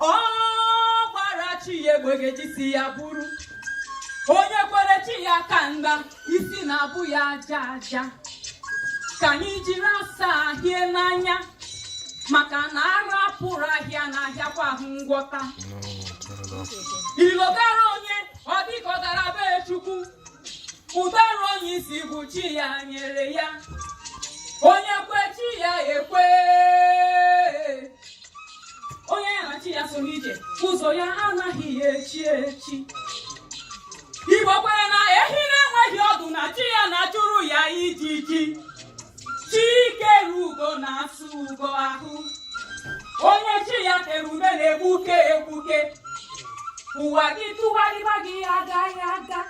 ọ gbara chi ya egbe ga-eji isi ya buru onye kwere chi ya aka mgba isi na-abụ ya aja aja ka anyị jiri asa ahịa n'anya maka na ara pụrụ ahịa anaghịkwa ahụ ngwọta ilogara onye ọ dịka ọ gara be chukwu ụdara onye isi bụ chi ya nyere ya onye kwe chi ya ekwe onye ya na chi ya so n'ije ụzọ ya anaghị ya echi echi igbo kwere na ehi na-enweghị ọdụ na chi ya na-achụrụ ya ijiji chi kere ugo na-asụ ugo ahụ onye chi ya tere ude na-egbuke egbuke ụwa gị tụgharịba gị agaghị aga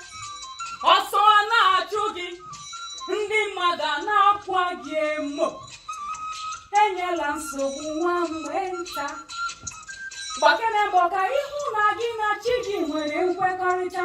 ọsọ a na-achụ gị ndị mmadụ a na-akwa gị emo enyela nsogbu nwanne nta gbakene mbọ ka ị hụ na gị na chi gị nwere nkwekọrịta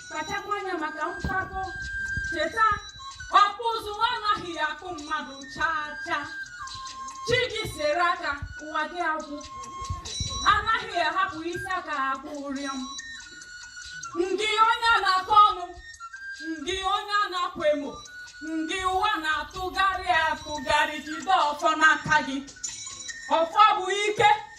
kpachakwa anya maka mpako cheta ọkpụ ụzụ anaghị ya akpụ mmadụ chaa chaa chi gị sere aka ụwa gị agwụ anaghị ahapụ isi aka akpụ ụrịọm ngị onye a na-akọ ọnụ ngị onye a na-akwa emo ngị ụwa na-atụgharị atụgharị jide ọfọ n'aka gị ọfọ bụ ike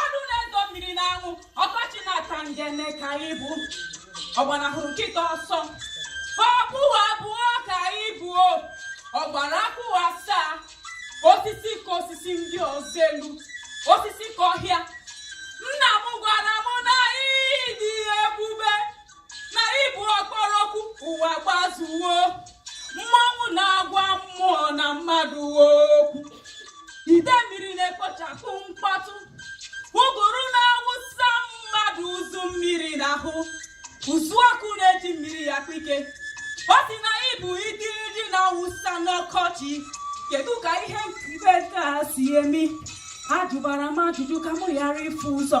ọnụ na-edo mmiri n'anwụ ọkọchị na-ata ngene ka ị bụ ọgbanahụrụ nkịta ọsọ ọbụwa abụọ ka ị bụ ọgbara akpụwa asaa osisi ka osisi ndị ọzọ elu osisi ka ọhịa nna m gwara m na ị dị ebube na ị bụ ọkpọrọ oku ụwa gbazuwo mmanwụ na-agwa mmụọ na mmadụ okwu ide mmiri na-ekpochapụ mkpọtụ ụgụrụ na-awụsa mmadụ ụzụ mmiri n'ahụ ụzụ ọkụ na-eji mmiri akpa ike ọ sị na ị bụ igirigi na-awụsa n'ọkọchị kedu ka ihe mkpeta si emi ajụbara m ajụjụ ka m ghara ifu ụzọ